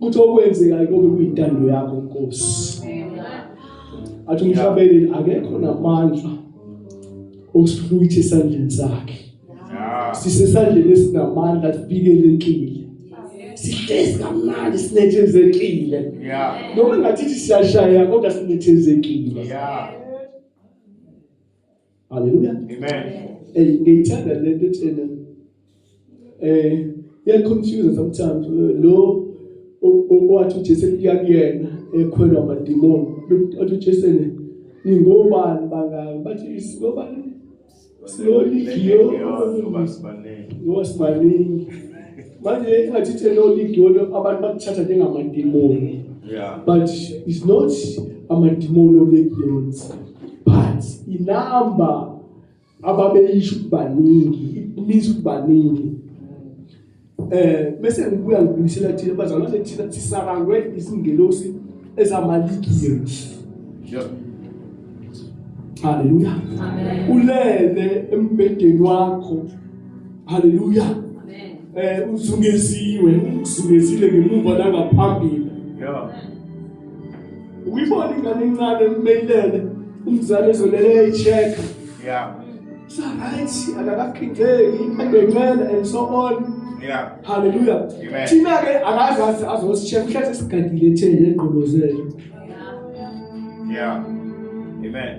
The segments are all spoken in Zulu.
ukuthi okwenzekayo kube kuyintando yakho Nkosi athi umhlabeni akekho namandla okusihlwitha esandleni sakhe sisesandleni esinamandla sibikelekile sihlezi kamnandi sinethezekile noma ngathi siyashaya kodwa sinethezekile Haleluya. Amen. Hey, ngiyithanda le nto ethena. Eh, iya confuse sometimes lo owathi uJesu kuya kuyena ekhwelwa amadimoni. Uthi uJesu ne ningobani bangaka bathi isingobani slowly giyo ngoba sibaningi manje ingathi the lord idona abantu bakuthatha njengamadimoni yeah but it's not amadimoni olekuyonza but inamba ababeyisho ukubaningi it means ukubaningi eh bese ngibuya ngibuyisela thina bazalwa thina sisarangwe izingelosi ezamaligiri yeah haleluya amen ulele embedeni wakho Haleluya. Amen. Eh uzungeziwe, uzungezile ngemuva nangaphambili. Yeah. Uyibona ingane incane emeyilele umzali ezolele echeck. Yeah. Sa right akakakhindeki adencela and so on. Yeah. Hallelujah. Amen. Thina ke akazazi azosicheck mhlawumbe sigadile thele egqolozele. Yeah. Yeah. Amen.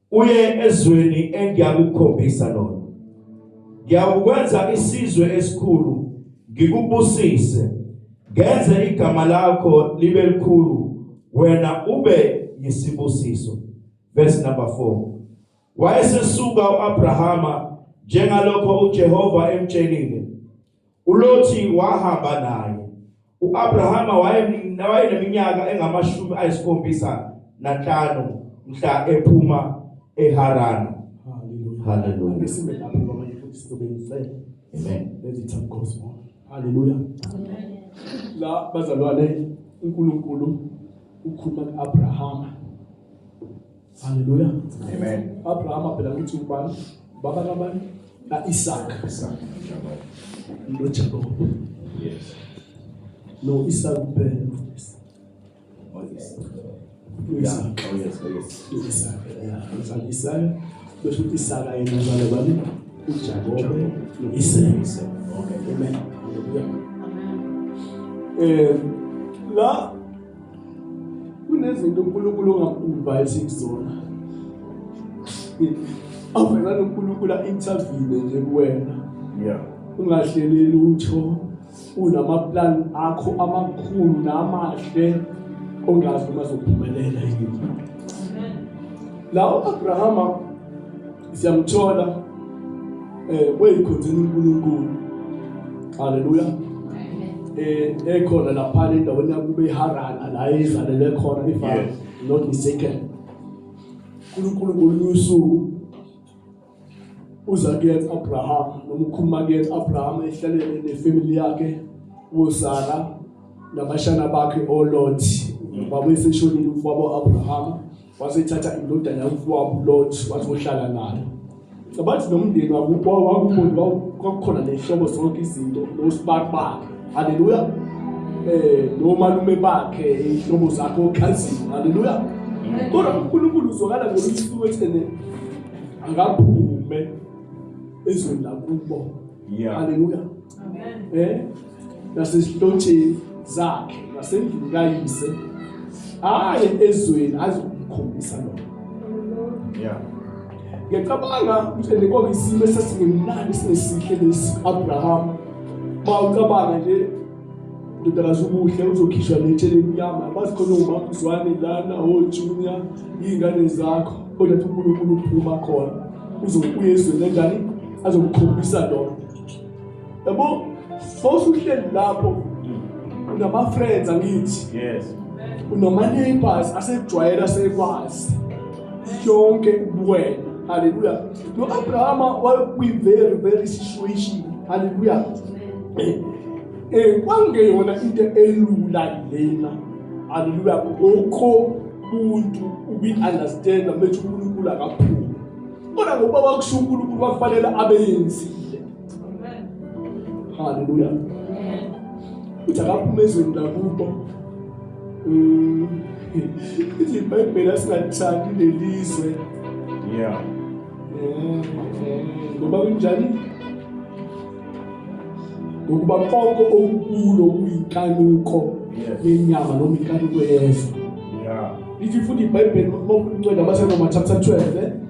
uye ezweni engiyakukhombisa lona ngiyakukwenza isizwe esikhulu ngikubusise ngenze igama lakho libe likhulu wena ube yisibusiso verse number 4 wayesesuka uAbrahama njengalokho uJehova emtshelile uLothi wahamba naye. UAbrahama wayeneminyaka engamashumi ayisikhombisa nanhlanu mhla ephuma eHarana. Hallelujah. Hallelujah. Isimbe lapho ngoba futhi sizobenzisela. Amen. Let's eat some gospel. Hallelujah. Amen. La bazalwane uNkulunkulu ukhuluma kuAbrahama Haleluya. Amen. Abraham phela ukuthi ubani? Baba kabani? Ka Isaac. Isaac. No Jacob. Yes. No Isaac kuphela. Oh yes. Isaac. Oh yes, oh yes. Isaac. Yeah. Isaac. Isaac. Besho ukuthi Isaac yena ngale bani? UJacob. Isaac. Okay. Amen. Haleluya. Eh la Kunezinto uNkulunkulu ongakuvayithi kuzona. Avela noNkulunkulu intervene nje kuwena. Yeah. Ungahleleli utho unamaplan akho amakhulu namahle ongazi uma zophumelela yini. Lawo Abrahama siyamthola eh weyikhonzeni uNkulunkulu haleluya eh ekhona lapha endaweni yakube iHarana la izalelwe khona if I'm not mistaken uNkulunkulu ngolunye usuku uza kuyena Abraham noma ukhuluma kuyena Abraham ehlalele nefamily yakhe uSara nabashana bakhe oLot babeseshonile ubaba Abraham wasethatha indodana yomfowabo uLot wathi uhlala nayo cabathi nomndeni wakubo wakukhona kwakukhona nehlobo zonke izinto nosibaki bakhe haleluya eh nomalume bakhe ihlobo zakhe okhazini haleluya kodwa uNkulunkulu uzwakala ngolunye usuku ethene akaphume ezweni lakubo Yeah. Hallelujah. Amen. Eh? Nasesihlotsheni zakhe nasendlini kayise aye ezweni azokukhombisa lokho. Yeah. Ngiyacabanga ukuthi lekho isimo esasingemnandi sinesihle lesi Abraham. Bawucabanga nje ndodakazi ubuhle uzokhishwa letshe lemnyama bazi khona umamzwane lana ojunior iy'ngane zakho kodwa thi unkulunkulu uphuma khona uzokuya ezweni enjani azokukhombisa lona yabo fawusuhleli lapho unama-friends angithi unamaneighbors asejwayela sekwazi yonke kuwena haleluya no-abrahama wayekwi-very very situation haleluya eh, eh, kwangeyona into elula lena haleluya ngokho umuntu ubi-understanda bethu unkulunkulu akaphumi kodwa ngokuba wakusho unkulunkulu kwakufanele abeyenzile Haleluya. Uthi akaphume ezweni lakubo. Mm. Ithi iBhayibheli asingathandi lelizwe. Yeah. Mm, mm. Ngoba kunjani? ngokuba konke okukulo kuyinkanuko yenyama noma inkanuko yezwe ithi futhi ibhayibheli makuncwela abasenoma chapter 12 eh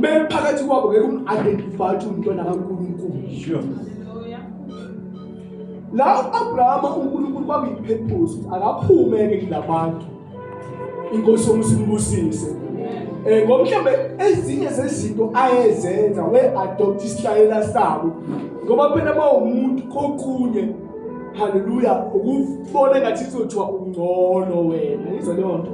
bephakathi kwabo ngeke um-identify ukuthi umntwana kankulunkulu la u-abrahama unkulunkulu kwakuyiphephuzo akaphume-ke kula bantu inkosi yomusimbusise um eh, ngomhlawumbe ezinye zezinto ayezenza we-adopta isihlayela sabo ngoba phela uma umuntu kokunye haleluya ukubona ngathi izothiwa ungcono wena izwa leyo nto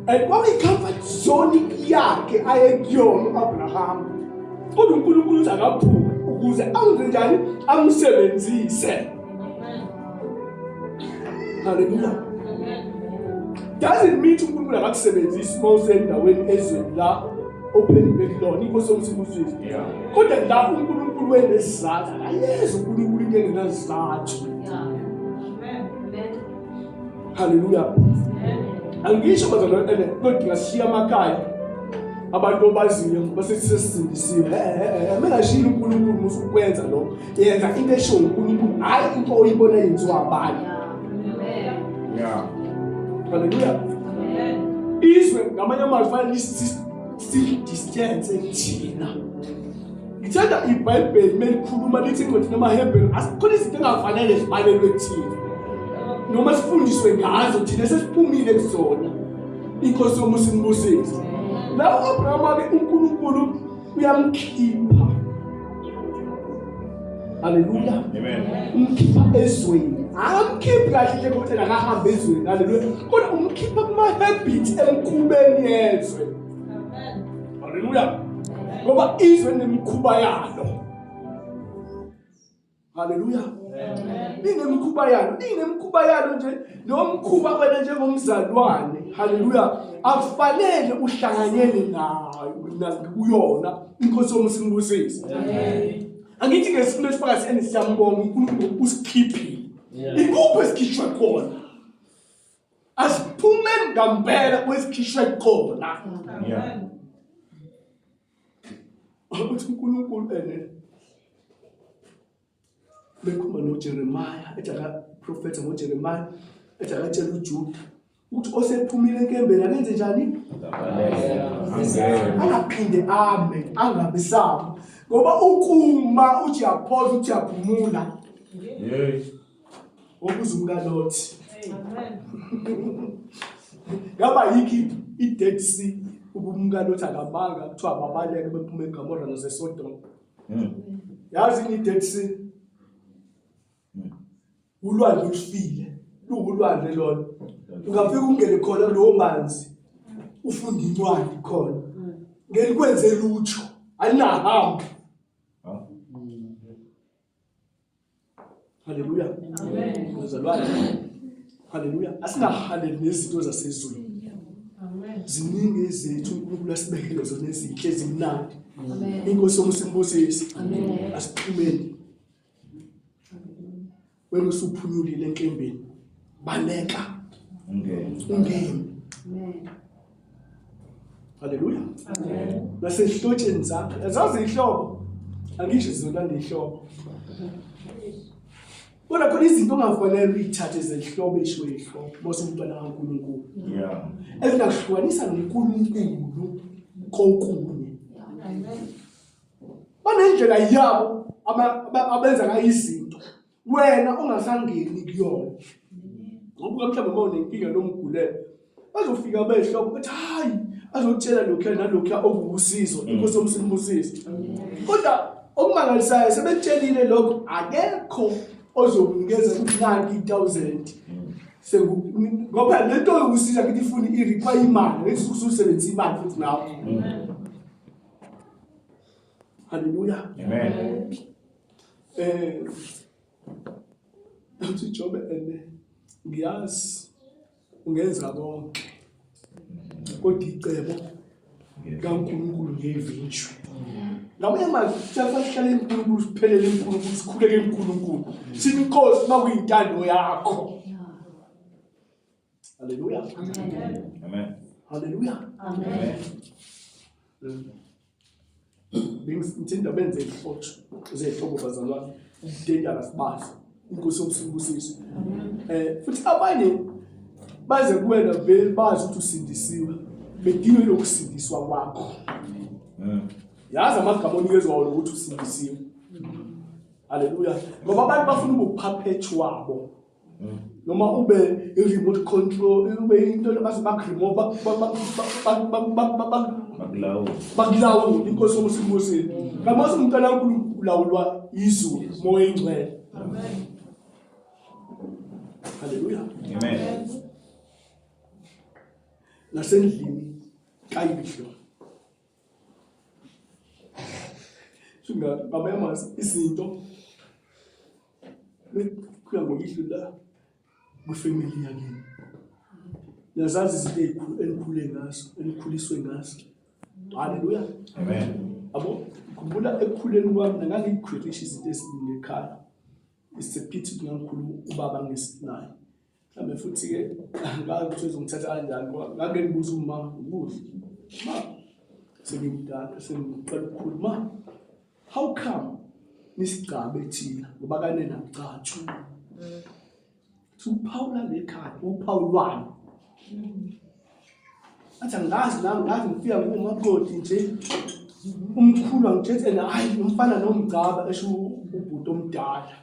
and kwakuyi-comfort zone yakhe ayekuyona u-abrahama kodwa unkulunkulu uthi akaphume ukuze angenze njani amsebenzise haleluya doesn't mean unkulunkulu akakusebenzisi uma usendaweni ezweni la ophenduke kulona inkosi omsibuzisi kodwa la unkulunkulu wenesizathu akayezi unkulunkulu into engenazizathu Haleluya. Angisho bazalwane ene kodwa ngashiya amakhaya. Abantu obaziyo basethi sesindisiwe. Mengashilo uNkulunkulu musu ukwenza lokho. Yenza into esho uNkulunkulu hayi into oyibona yenziwa abanye. Yeah. Haleluya. Izwe ngamanye amazwi fanele si distance thina. ngithanda ibhayibheli uma likhuluma lithi incwadi namahebheli asikhona izinto engafanele zibalelwe kuthina noma sifundiswe ngazo thina sesiphumile kuzona inkosi yomusa imbusise la u-abraham wabe unkulunkulu uyamkhipha haleluya umkhipha ezweni akamkhiphi kahle nje kodwa akahambe ezweni haleluya kodwa umkhipha kuma-habit emkhubeni yezwe Haleluya. Ngoba izwe nemikhuba yalo. Haleluya. Inemikhuba yalo, inemikhuba yalo nje nomkhuba wena njengomzalwane. Haleluya. Akufanele uhlanganyele nayo kuyona inkosi yomusingusisi. Amen. angithi ke sifuna isifakazi and siyambonga uNkulunkulu usikhiphile ikuphi esikhishwa khona asiphumeni ngampela kwesikhishwe khona ukuthi uNkulunkulu ene bekhuluma noJeremiah ethi akaprofetha ngoJeremiah ethi akatshela uJuda ukuthi osephumile enkembeni akenze njani angaphinde ame angabe sabo ngoba ukuma uthi yaphola uthi yaphumula yes Ukuze umkaLothi. Amen. Ngaba yikhi i-Dead Sea ubumka lothi akamanga kuthiwa babaleke bephuma eGomora naseSodom. Hmm. Yazi ni Dead Sea. Hmm. Ulwandle olufile, luwulwandle lona. Ungafika ungene khona lowo manzi ufunda incwadi khona. Hmm. Ngelikwenze lutho, alinahambi. Haleluya. Amen. Uzalwane. Haleluya. Asingahaleli nezinto zasezulu. Amen. Ziningi izethu uNkulunkulu asibekele zona ezinhle ezimnandi. Amen. Inkosi yomusimbusisi. Amen. Asiphumeni. Wena usuphunyulile enkembeni. Baleka. Ungene. Ungene. Amen. Haleluya. Amen. Nasehlotsheni zakhe. Azazi ihlobo. Angisho izona ndihlobo. Kodwa khona izinto ongafanele uyithathe zenhlobo isho ihlobo mose umntwana kaNkulunkulu. Yeah. Ezingahlukanisa noNkulunkulu konkunye. Amen. Banendlela yabo abenza ngayo izinto. wena ungasangeni kuyona ngoba mhlawumbe uma unenkinga nomgulelo bazofika behloko bethi hayi azokutshela lokhu nalokhu okuwusizo mm. inkosi yomsimbusisi kodwa okumangalisayo sebetshelile lokho akekho ozokunikeza kunani 1000 ngoba le nto yokusiza kithi ifuna i-require imali ngethi ukusebenzisa imali futhi nawo Haleluya. Amen. Eh uthi Jobe ene ngiyazi ungenza konke. Kodwa icebo kaNkulunkulu ngevinjwe. Ngamanye amazwi siyasahlala enkulunkulu siphelele enkulunkulu sikhuleke enkulunkulu. Sithi Nkosi makuyintando yakho. Haleluya. Amen. Amen. Haleluya. Amen. Ngithinda benze ihlotsho zehlobo bazalwane ukudedala sibazi inkosi yokusibusisa eh futhi abanye baze kuwena vele bazi ukuthi usindisiwe bedinwe lokusindiswa kwakho mm. yazi amagama onikezwa wona ukuthi usindisiwe haleluya ngoba abantu bafuna ubuphaphetshu wabo noma ube i-remote control ube into baze bakuremova bakulawule inkosi yomusa inkosini ngamazi umntana kankulunkulu ulawulwa izulu moya ingcwele halleluya nasendlini kayibihlo Shingathi baba yamazi izinto bekuya ngoyihlo la kwifamily yakini. Niyazazi izinto ezikhulu enikhule ngazo, enikhuliswe ngazo. Haleluya. Amen. Abo ngikhumbula ekukhuleni kwami nangangikhwirisha izinto eziningi ekhaya. It's a pity ukuthi ngangikhulu ubaba ngesinayo. mhlawumbe futhi-ke ngazi ukuthi uzongithatha kanjani ngoba ngake ngibuza uma ngibuze ma sengimdala sengiqala ukukhulu ma how come nisigcabe thina ngoba kanena ngicathu uphawula lekhaya uphawulwani athi angazi nami ngazi ngifika ngumaqodi nje umkhulu angithethe naye umfana nomgcaba esho ubhuti omdala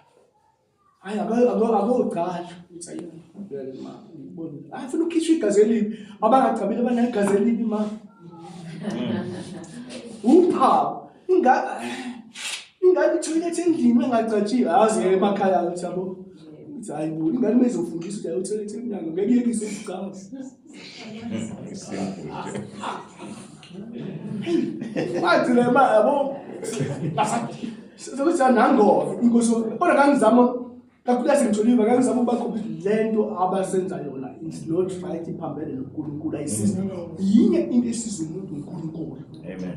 Hayi akogcala uthi ayibulele ma ngibona. Hayi funa ukhishwa igazi elibi. Abangagcabile banegazi elibi ma. Upha ingaka ingane ithoilet endlini engagcatshiwe azi emakhaya ukuthi yabo. Hayi bo ingane mezofundisa ukuthi ayothoilet emnyango ngeke yekise ukucabanga. Wagcina imali yabo sokuthi anangova inkosi kodwa ngangizama kakhulu yasengijoliva ngangizama ukuba khona lento abasenza yona it's not right iphambene noNkulunkulu ayisizi yinye into esiza umuntu uNkulunkulu amen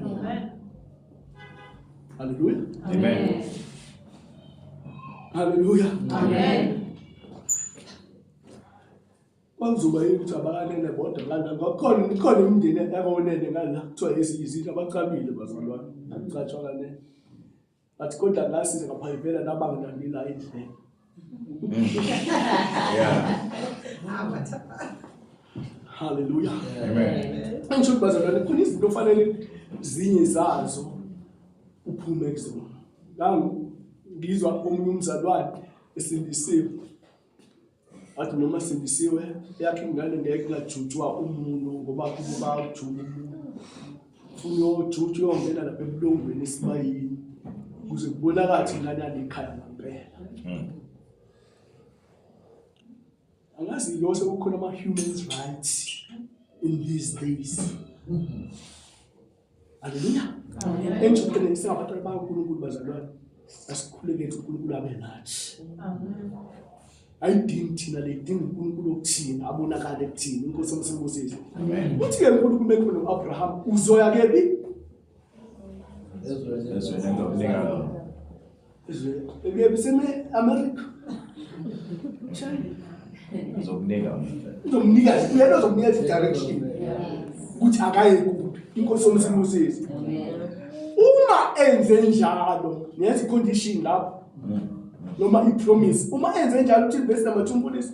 haleluya amen haleluya amen Kwanzuba yini ukuthi abakanene bodwa ngala ngakhona ikhona imindeni yakonene ngala kuthiwa izindlu abacabile bazalwane akucatshwa kanene but kodwa ngasiza ngaphayivela nabangilandela indlela haleluya angisho ukuthi bazalwane khona izinto ofanele zinye zazo uphume kuzona ngizwa omunye umzalwane esindisiwe wathi noma sindisiwe yakhe ingane ngeke ingajutshwa umuntu ngoba kubo bawujuba umuntu funa uyojutshwa uyongena lapha ebulongweni esibayini kuze kubonakala ukuthi ingane yalekhaya ngampela hmm. angazi lo sekukhona ama-human rights in these days Haleluya. Amen. Enjubeni singabatwana bakaNkulunkulu bazalwane. Asikhulekele uNkulunkulu abe nathi. Amen. ayidingi thina le idinga uNkulunkulu okuthina abonakale kuthina inkosi omsebenzisi amen uthi ke uNkulunkulu kumekho noAbraham uzoya kephi ezweni ezweni lengalo Ebuyebiseme-Amerika. Uzomnika uzomnika uyena uzomnika i-direction ukuthi akaye kuphi inkosi yomsimo usisi uma enze njalo ngenza i-condition lapho noma i-promise uma enze njalo uthini vesi namathumbulisi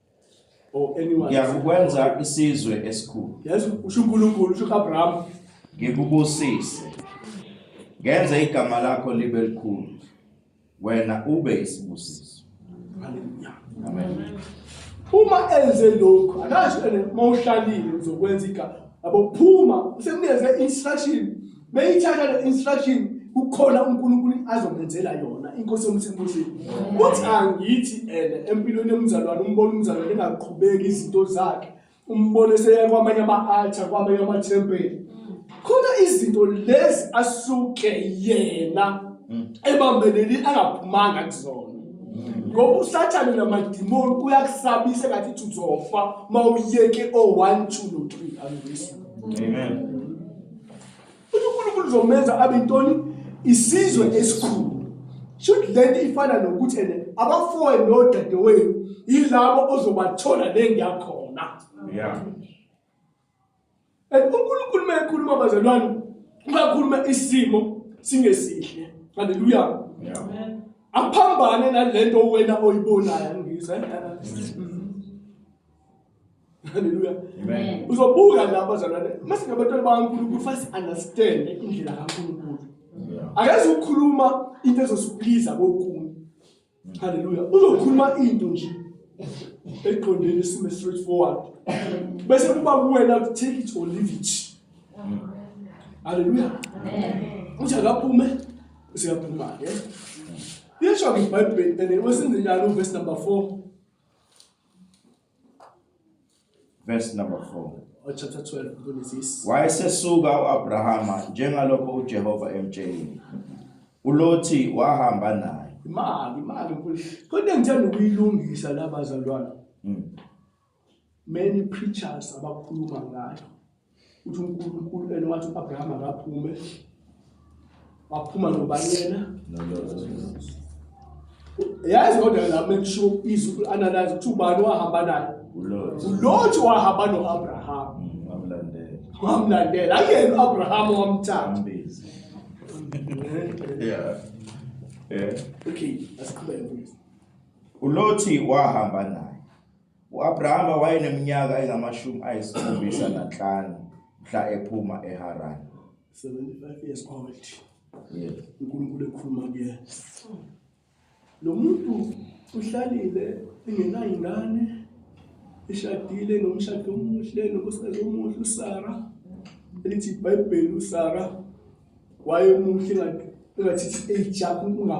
or anyone. ngiyakukwenza isizwe esikhulu Yes, usho uNkulunkulu, usho uAbraham. ngikubusise ngenze igama lakho libe likhulu wena ube isibusiso Hallelujah. amen Uma enze lokho, akasho ene mawuhlalile uzokwenza igama. Abo phuma, usemnikeze instruction beyithatha le instruction kukhona uNkulunkulu azomenzela yona inkosi yomsebenzini uthi angithi ene empilweni yomzalwane umbona umzalwane engaqhubeki izinto zakhe umbone seya kwamanye ama-altar kwamanye amathempeli khona izinto lezi asuke yena hmm. ebambeleli angaphumanga kuzona ngoba usathane namadimoni uyakusabisa ngathi ithi uzofa uma uyeke o-one two no-three angiyiswa amen uNkulunkulu uzomenza abe intoni isizwe esikhulu should lento ifana nokuthi ene abafowe nodadewenu yilabo ozobathola lengiyakhona yeah and uNkulunkulu mayekhuluma bazalwane uyakhuluma isimo singesihle haleluya yeah aphambane nalento wena oyibonayo ngizwe Hallelujah. Amen. Uzobuka la bazalwane. Mase ngabantwana bakaNkulunkulu fast understand indlela kaNkulunkulu. Akazi ukukhuluma into ezosiphiza kokunye. Hallelujah. Uzokhuluma into nje eqondene isimo straight forward. Bese kuba kuwena to take it or leave it. Hallelujah. Amen. Uthi akaphume useyaphuma ke. Yesho ke iBhayibheli and wesenze njalo verse number 4. Verse number 4. or chapter 12 kuLezisi Wayesesuka uAbrahama njengalokho uJehova emtshelile. ULothi wahamba naye. imali imali enkulu kodwa engithanda ukuyilungisa la bazalwana Mm. many preachers abakhuluma ngayo uthi uNkulunkulu ena wathi uAbraham akaphume waphuma nobanyena yazi kodwa la make sure izwi analyze ukuthi ubani wahamba naye uLothi wahamba noAbraham mm, wamlandela wamlandela ayena uAbraham wamthanda yeah yeah okay asiqhubeke uLothi wahamba naye U-Abrahama wayeneminyaka engamashumi ayisikhombisa nanhlanu mhla ephuma eHarani. 75 years old Yes. unkulunkulu ekhuluma kuyena lo muntu uhlalile engenayo ingane eshadile nomshado omuhle nonkosikazi omuhle usara elithi ibhayibheli usara wayemuhle engathi engathi it's age yakho unga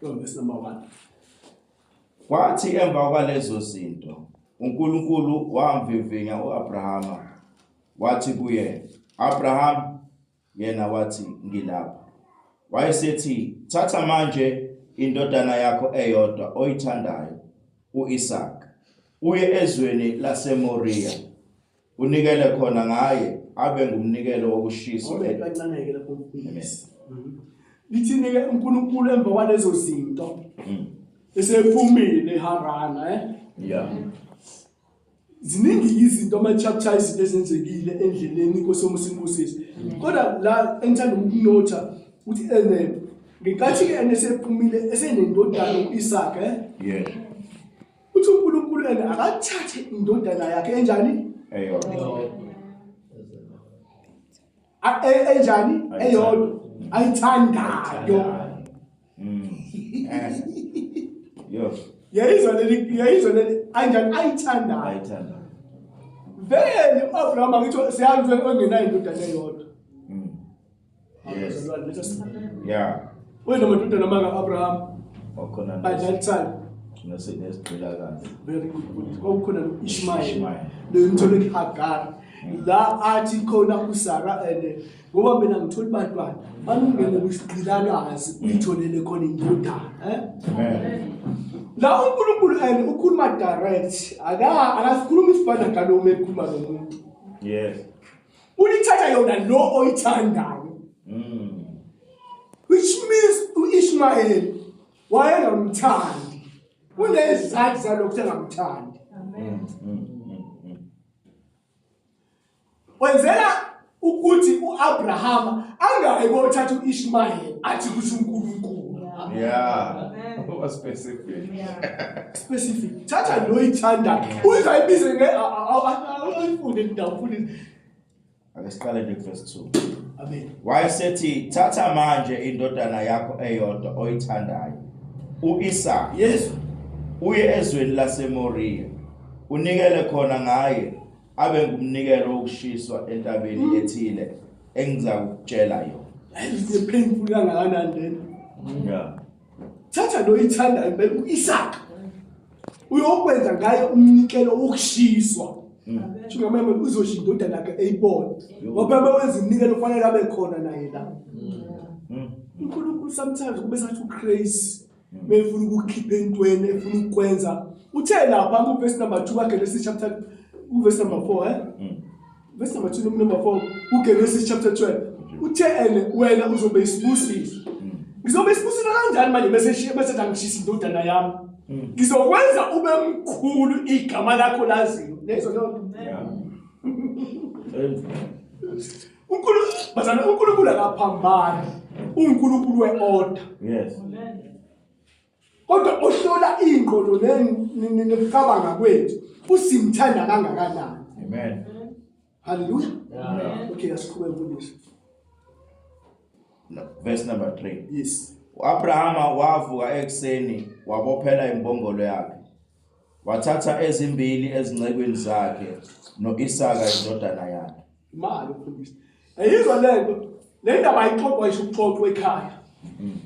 Verse number 1. Kwathi emva kwalezo zinto uNkulunkulu wamvivinya uAbrahama wathi kuye Abraham yena wathi ngilapha wayesethi thatha manje indodana yakho eyodwa oyithandayo uIsaac uye ezweni laseMoriya Unikele khona ngaye abe ngumnikelo wokushiswa. Ngoba ibancaneke lapho uNkulunkulu. Amen. Mhm. Lithini ke uNkulunkulu emva kwalezo zinto Mm. esephumile eHarana eh Yeah. ziningi izinto ama chapter izinto ezenzekile endleleni inkosi yomusa imbusisi kodwa la engithanda ukunotha ukuthi ene ngenkathi ke enesephumile esenendodana uIsaac eh Yeah. uthi uNkulunkulu yena akathathe indodana yakhe enjani eyodwa e-, enjani eyodwa ayithandayo mm. yayizwa leli yayizwa leli anjani ayithandayo ayithandayo vele u-abrahama ngitho siyazi ongenayo indodana eyodwa Yes. Yeah. Wena madodana maka Abraham. Wakhona. By that time. Ngase nesigqila kahle. Very good. Kwakukhona no Ishmael. Lo mthole iHagar. Mm. La athi khona uSara and ngoba mina ngithola ibantwana banungene kusigqilakazi mm. uyitholele khona indodana eh amen la uNkulunkulu and ukhuluma direct aka akasikhuluma isibanda ngalo uma ekhuluma nomuntu yes Ulithatha yona lo oyithandayo. Mm. Which means uIshmael wayengamthandi. Kunezizathu zalokho sengamthandi. Amen. Mm, mm, mm, Wenzela ukuthi uAbraham angayi kothatha uIshmael athi kusho uNkulunkulu. Yeah. Amen. Was specific. Yeah. specific thatha lo oyithandayo uzayibize nge ayifunde indawo futhi ake siqale nje verse 2 amen wayesethi thatha manje indodana yakho eyodwa oyithandayo uIsa yes uye ezweni laseMoriya unikele khona ngaye abe ngumnikelo wokushiswa entabeni mm. ethile engizakutshela yona ayiziphendulela ngakanani lento yeah thatha lo yithandayo impela uIsaka uyokwenza ngaye umnikelo wokushiswa shuka mama uzosho indodana yakhe eyibona ngoba uma wenza umnikelo ufanele abe khona naye la uNkulunkulu sometimes kube sathi uCrazy mefuna ukukhipha entweni efuna ukwenza uthe lapha ku verse number 2 wakhe lesi chapter ku verse number 4 eh Verse number 2 number 4 uGenesis chapter 12. Uthe ene wena uzobe isibusiso. Ngizobe isibusilo kanjani manje bese bese ngishisa indodana yami. Hmm. Ngizokwenza ube mkhulu igama lakho laziyo. Lezo nto. uNkulunkulu bazana uNkulunkulu akaphambani uNkulunkulu weorder yes kodwa ohlola ingqondo nokucabanga kwethu usimthanda kangakanani amen haleluya okay asiqhubeke mfundisi verse number 3 yes uAbrahama wavuka ekuseni wabophela imbongolo yakhe Wathatha ezimbili ezincekwini zakhe no-Isaka indodana yakhe. Imali ukhulisa. Ayizwa lento. Le ndaba ayixoxwa isho ukuxoxwa ekhaya. Mm.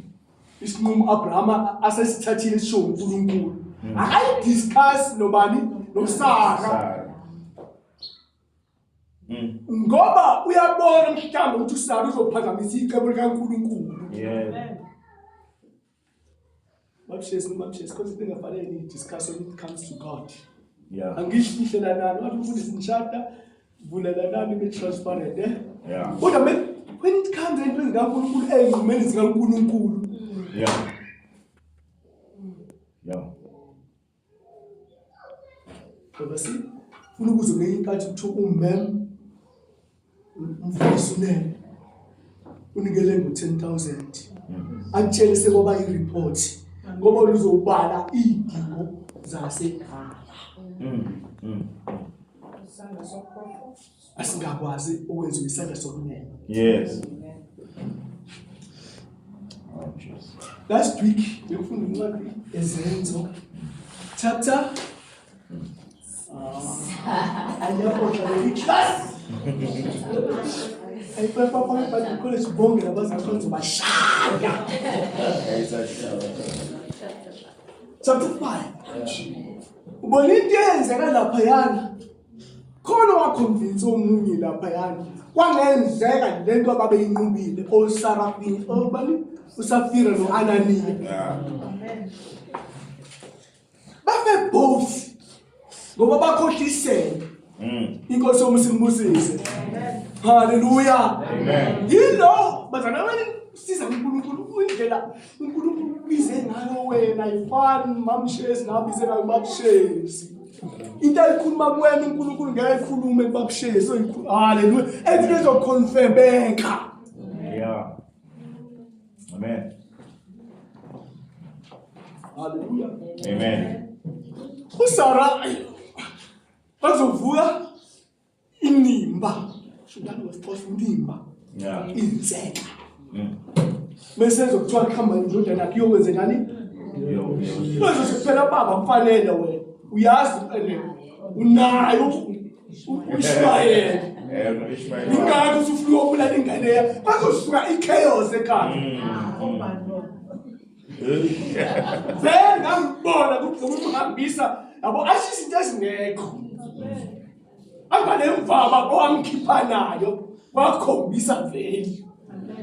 Isinqumo Abraham asesithathile sisho uNkulunkulu. Mm. Akayi discuss nobani noSara. Mm. Ngoba uyabona mhlawumbe ukuthi uSara uzophazamisa icebo likaNkulunkulu. Yeah. Babshesi nomabshesi because into engafanele niyidiscuss when it comes to God. Yeah. Angihlihlelelani wathi umfundisi nishada vulelanani be transparent eh? Yeah. Kodwa me when it comes into zikaNkulunkulu ezimeni zikaNkulunkulu. Yeah. Yeah. Babasi, funa ukuze ngenye inkathi kuthiwa umem umfundisi unene unikele ngo-ten thousand akutshele sekwaba i-report ngoba luzobala iy'dingo zasekhaya mm, mm. asingakwazi ukwenza isandla sokunene yes oh, last week bekufunda incwadi ezenzo chapter ayipapapabakhole sibonge nabazikhonzo bashaya chapter five ubona into eyenzeka laphayana khona wakhonvinsa omunye laphayana kwangenzeka le nto ababeyinqubile osarafini obani usafira no-ananiya babe both ngoba bakhohlisele mm. inkosi yomusa imbusise halleluya yilo bazana siza kunkulunkulu indlela uNkulunkulu ubize ngayo wena yifani mamshezi nabize ngayo babshezi into ayikhuluma kuwena uNkulunkulu ngeke ayikhulume kubabshezi oyikhuluma haleluya ethi ezokhonfemeka yeah amen haleluya amen usara bazovuka inimba shudani wesixhosa inimba yeah. inzeka mm. bese zokuthiwa kuhamba indodana yakhe iyokwenzekani kwezo sekuphela baba mfanele wena uyazi mfanele unayo ushwayela ingakho usufuna ukubulala ingane yakho bazosuka i-chaos ekhaya mm. mm. vele ngangibona kuthi umhambisa yabo asho izinto ezingekho anganemvama owamkhipha nayo wakhombisa vele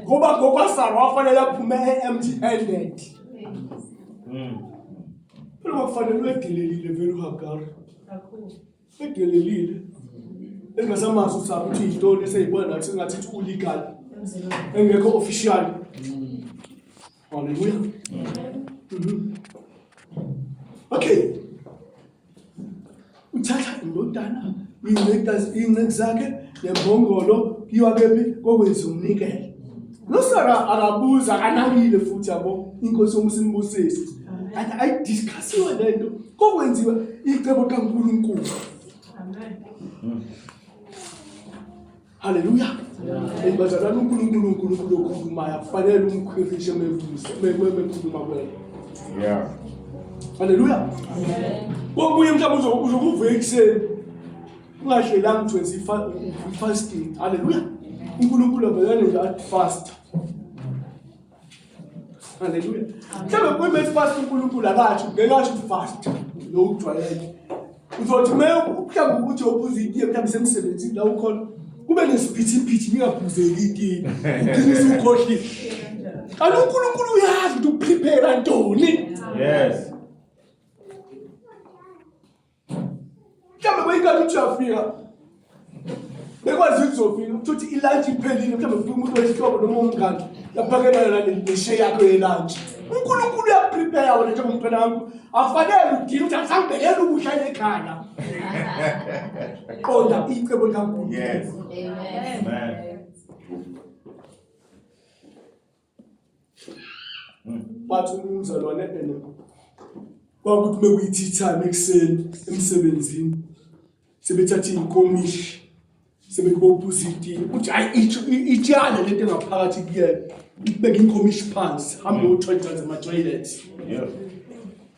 ngoba ngokwasara wafanele aphume e-empty handed hmm. phela kwakufanele ubedelelile vele uhagari edelelile engasamazi ukuthi akuthi yintoni eseyibona nathi sengathi ulegal engekho official hmm. Hallelujah. Mhm. Okay. Uthatha indodana iyincekazi iyinceki zakhe nembongolo kuyiwa kephi kokwenza umnikelo. Nosara akabuza akanakile futhi yabo inkosi yomusimbusisi. Kanti ayidiscussiwe lento kokwenziwa icebo kaNkulunkulu. Amen. Haleluya. Hey bazalwane uNkulunkulu uNkulunkulu okhulumayo akufanele umkhwirishe mebuze mekhuluma kwena. Yeah. Haleluya. Kokunye mhlawumbe uzokuvuka ekuseni ungahlelanga ukuthi wenza i-fasting. Haleluya. uNkulunkulu avele nje athi fast Haleluya. Mhlawumbe kube esifast uNkulunkulu akathi ngeke athi ufast lo ujwayele. Uzothi uma mhlawumbe ukuthi obuza itiye mhlawumbe semsebenzini la ukhona kube nesiphithiphithi ningaphuzeki itiye. Ugcine usukhohlile. Kanti uNkulunkulu uyazi ukuthi uprepare ntoni. Yes. mhlawumbe kweyikati ukuthi uyafika bekwazi ukuthi uzofika ukuthi ilantshi iphelile mhlawumbe kufika umuntu wesihlobo noma umngane yaphakelana naneshe yakho yelantshi unkulunkulu uyakuprepare wena njengomntwana wami afanele udini ukuthi angisangibekela ukudla ekhaya qonda icebo likankulunkulu bathi umzalwane ene kwakuthi bekuyithithane ekuseni emsebenzini sebethatha iy'nkomishi sebekubophuza itiye ukuthi hayi itshana lento engaphakathi kuyena ikubeka inkomishi phansi hambe uthwalidlanza ama-toilet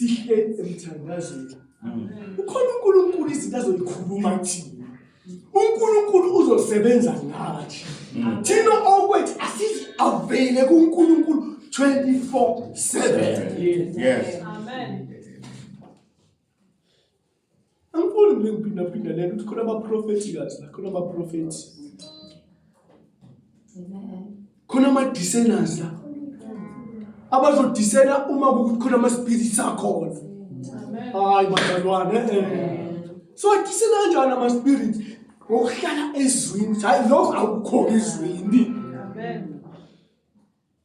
sihlezi emthandazweni ukhona unkulunkulu izinto azoyikhuluma kuthina unkulunkulu uzosebenza ngathi thina okwethu asizi-avele kunkulunkulu 24 7 yes. Amen. Angifuni mina ngiphindaphinda lento ukuthi khona amaprofethi kazi la khona amaprofethi. Khona ama-discerners la. Abazodisena uma kukuthi khona ama-spirits akhona. Hayi bazalwane. So disena kanjani ama-spirits? Ngokuhlala ezwini. Hayi lokho akukho ezwini. Amen.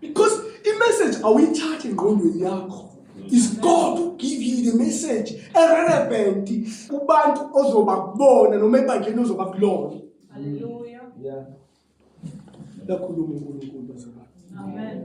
because imessage awuyithathi engqondweni yakho is god who give you the message erelevant kubantu ozoba kubona noma ebandleni ozoba kulona haleluya yeah lakhuluma uNkulunkulu bazalwane amen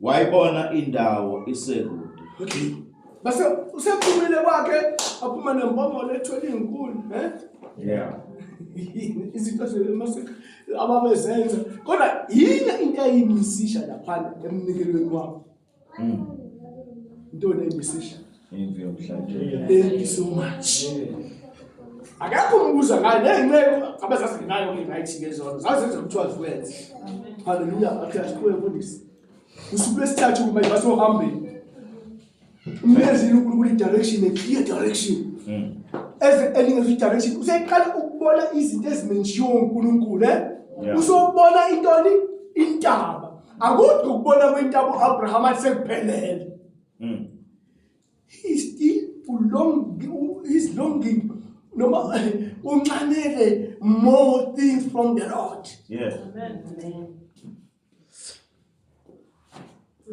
Wayibona indawo isekude. Okay. Base usephumile kwakhe aphuma nembongolo ethwele izinkuni, eh? Yeah. Izinto zemasik ababezenza. Kodwa yini into eyimisisha lapha emnikelweni wabo? Mm. Into eyimisisha. Thank you so much. Akakho umbuza ngayo nezinceku abazazi nginayo ke right ngezono. Zazenza ukuthiwa zikwenze. Hallelujah. Akhiya sikhule mfundisi. Usuku lesithathu kuma ibase ohambeni. Umyezi uNkulunkulu i-direction a clear direction. Hmm. As elingazo i-direction useqala ukubona izinto ezimenjiwe uNkulunkulu eh? Usobona intoni intaba. Akudwa ukubona kwentaba uAbraham athi sekuphelele. mm. he still long is longing noma unxanele more things from the lord yes amen amen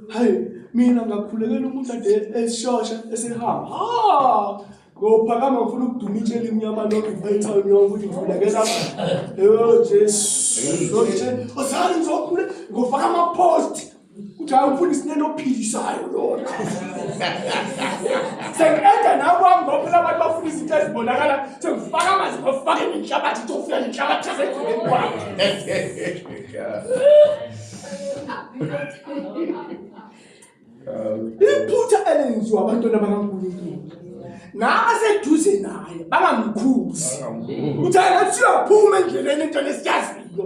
hayi mina ngakhulekela umuntu ade esishosha esehamba ha ngophakama ngifuna ukuduma itsheli imnyama lokhu ngifayithalo nyoka ukuthi ngivulekela yo jesu osani ngizokhule ngofaka ama-post uthi hayi ufuna isinene ophilisayo lona sengiqeda nakwami ngoba phela abantu bafuna izinto ezibonakala sengifaka amanzi ngofake nenhlabathi ithi ufika nenhlabathi esekhuleni kwakho iphutha elenziwa abantwana bakankulunkulu nabaseduze naye bangamkhuzi uthi angathi uyaphuma endleleni entwana esiyaziyo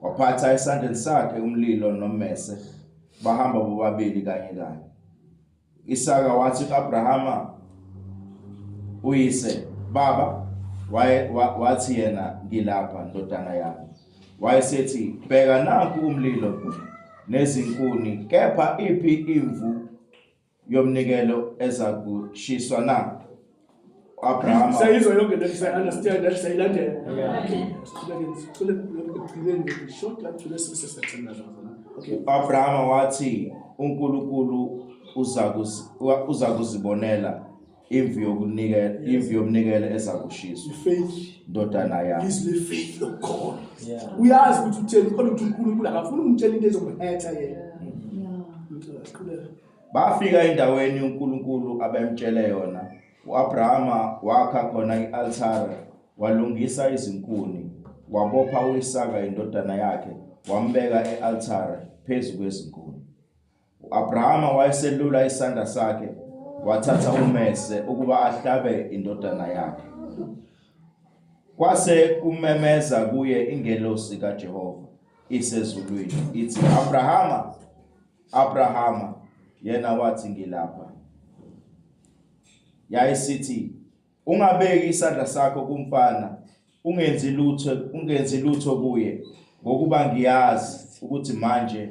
Waphatha esandleni sakhe umlilo nommese, bahamba bobabili kanye kanye. Isaka wathi ku-Abrahama uyise, Baba, waye wa- wathi yena, ngilapha ndodana yami. Wayesethi, bheka nanku umlilo nezinkuni, kepha iphi imvu yomnikelo ezakushiswa na Abraham sayizwa yonke le say understand that sayilandela uAbraham wathi uNkulunkulu uza kuzibonela imvu yokunikela imvu yomnikelo ezakushiswa ifaith ndodana yami is the faith of God uyazi ukuthi utheni kodwa ukuthi uNkulunkulu akafuni umtshela into ezomhetha yena bafika endaweni uNkulunkulu abemtshele yona uAbrahama wakha khona ialtare walungisa izinkuni wabopha uIsaka indodana yakhe wambeka ealtare phezu kwezinkuni U-Abrahama wayeselula isandla sakhe wathatha umese ukuba ahlabe indodana yakhe. Kwase kumemeza kuye ingelosi kaJehova isezulwini ithi, Abrahama, Abrahama, yena wathi ngilapha. Yayisithi Ungabeki isandla sakho kumfana, ungenzi lutho, ungenzi lutho kuye, ngokuba ngiyazi ukuthi manje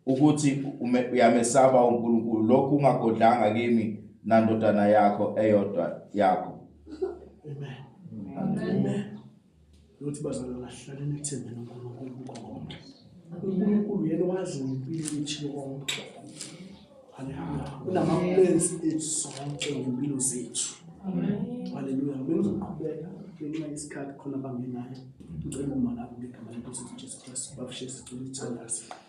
ukuthi uyamesaba uNkulunkulu, lokhu ungagodlanga kimi nandodana yakho eyodwa yakho. Amen. Amen. Amen. Lothi bazalwa kahlale nethembe noNkulunkulu kukhona. UNkulunkulu yena wazi ngempilo yethu yonke. Haleluya. Unamamlensi ethu sonke ngempilo zethu. Amen. Haleluya. Bengizoqhubeka ngenxa yesikhathi khona abangenayo. Ngicela uma lapho ngegama lenkosi Jesu Kristu bafishe sicela ithandazo.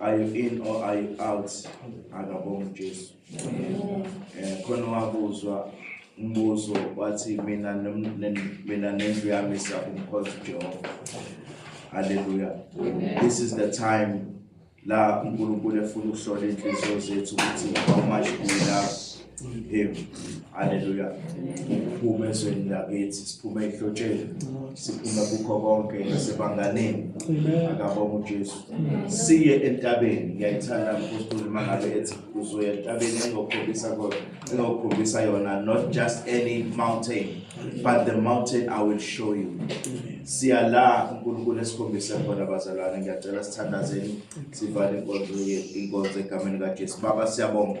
are you in or are you out akabonga uJesu eh khona wabuzwa umbuzo wathi mina mina nendlu yami siyakumkhonza uJehova haleluya this is the time la uNkulunkulu efuna ukuhlola inhliziyo zethu ukuthi how much we love Him. Hallelujah. Siphuma ezweni lakithi, siphuma ehlotsheni, siphuma kukho konke nasebanganeni. Akabonga uJesu. Siye entabeni, ngiyayithanda umpostoli uma ngabe ethi uzoya entabeni engokhombisa kodwa, engokhombisa yona not just any mountain, but the mountain I will show you. Siya la uNkulunkulu esikhombise khona bazalwane, ngiyacela sithandazeni sivale inkonzo ye- inkonzo egameni kaJesu. Baba siyabonga.